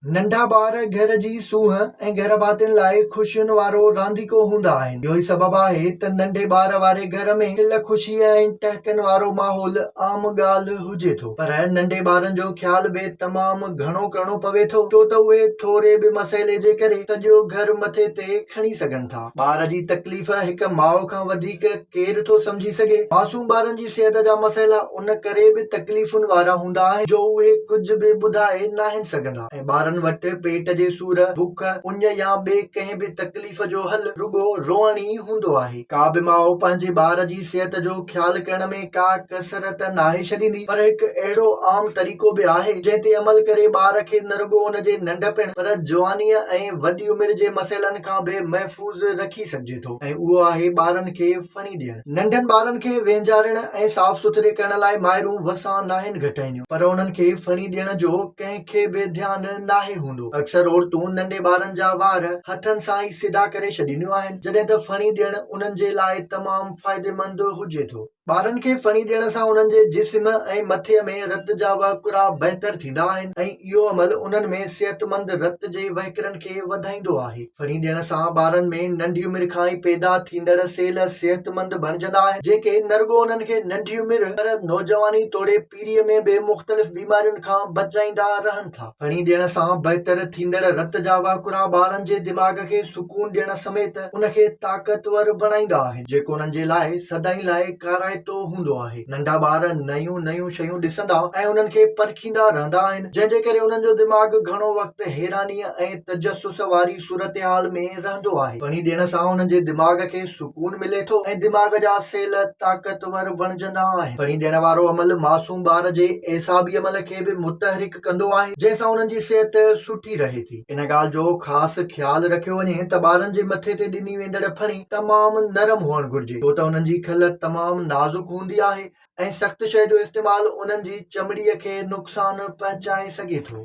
ننڍا ٻار گهر جي سونهن ۽ گهر ڀاتين لاء خوشين وارو رانديڪو هوندا آهن. اهو ئي سبب آهي ته ننڍي ٻار واري گهر ۾ کل خوشيء ۽ ٽهڪن وارو ماحول عام ڳالهه هجي ٿو. پر ننڍي ٻارن جو خيال به تمام گهڻو ڪرڻو پوي ٿو ڇو ته اهي ٿوري به مسئلي جي ڪري سڄو گهر مٿي تي کڻي سگهن ٿا. ٻار جي تڪليف هڪ ماء کان وڌيڪ ڪير ٿو سمجهي سگهي. معصوم ٻارن جي صحت جا مسئلا ان ڪري به تڪليفن وارا هوندا آهن جو اهي ڪجهه به ٻڌائي ناهن سگهندا ۽ ٻارن وٽ پيٽ جي سور، بک، اڃ يا ٻي ڪنهن به تڪليف جو حل رڳو روئڻ ئي هوندو آهي. ڪا به ماء پنهنجي ٻار جي صحت جو خيال ڪرڻ ۾ ڪا ڪسر ته ناهي ڇڏيندي پر هڪ اهڙو عام طريقو به آهي جنهن تي عمل ڪري ٻار کي نه رڳو ان جي ننڍپڻ پر جوانيء ۽ وڏي عمر جي مسئلن کان به محفوظ رکي سگهجي ٿو ۽ اهو آهي ٻارن کي ڦڻي ڏيڻ. ننڍن ٻارن کي وينجارڻ ۽ صاف سٿري ڪرڻ لاء مائرون وسان ناهن گهٽائينديون پر انهن کي ڦڻي ڏيڻ جو ڪنهن کي به ڌيان ناهي هوندو. اڪثر عورتون ننڍي ٻارن جا وار هٿن سان ئي سڌا ڪري ڇڏينديون آهن جڏهن ته ڦڻي ڏيڻ انهن جي لاء تمام فائديمند هجي ٿو. ٻارن کي ڦڻي ڏيڻ سان انهن جي جسم ۽ مٿي ۾ رت جا وهڪرا بهتر ٿيندا آهن ۽ اهو عمل انهن ۾ صحتمند رت جي وهڪرن کي وڌائيندو آهي. ڦڙي ڏيڻ سان ٻارن ۾ ننڍي عمر کان ئي پيدا ٿيندڙ سيل صحتمند بڻجندا آهن، جيڪي نه رڳو انهن کي ننڍي عمر پر نوجواني توڙي پيريء ۾ به مختلف بيمارين کان بچائيندا رهن ٿا. ڦڙي ڏيڻ سان بهتر ٿيندڙ رت جا وهڪرا ٻارن جي دماغ کي سڪون ڏيڻ سميت ان کي طاقتور بڻائيندا آهن، جيڪو انهن جي لاء سدائين لاء ڪارائتو هوندو آهي. ننڍا ٻار نيون نيون شيون ڏسندا ۽ انهن کي پرکيندا رهندا آهن، جنهن جي ڪري انهن جو دماغ گهڻو وقت حيرانيء ۽. تجسس واري صورتحال ۾ رهندو آهي. پڻي ڏيڻ سان هن جي دماغ کي سڪون ملي ٿو ۽ دماغ جا سيل طاقتور بڻجندا آهن. پڻي ڏيڻ وارو عمل معصوم ٻار جي اعصابي عمل کي به متحرڪ ڪندو آهي، جنهن سان انهن جي صحت سٺي رهي ٿي. ان ڳالهه جو خاص خيال رکيو وڃي ته ٻارن جي مٿي تي ڏني ويندڙ پڻي تمام نرم هئڻ گهرجي، ڇو ته انهن جي کل تمام نازڪ هوندي آهي ۽ سخت شيء جو استعمال انهن جي چمڙي کي نقصان پهچائي سگهي ٿو.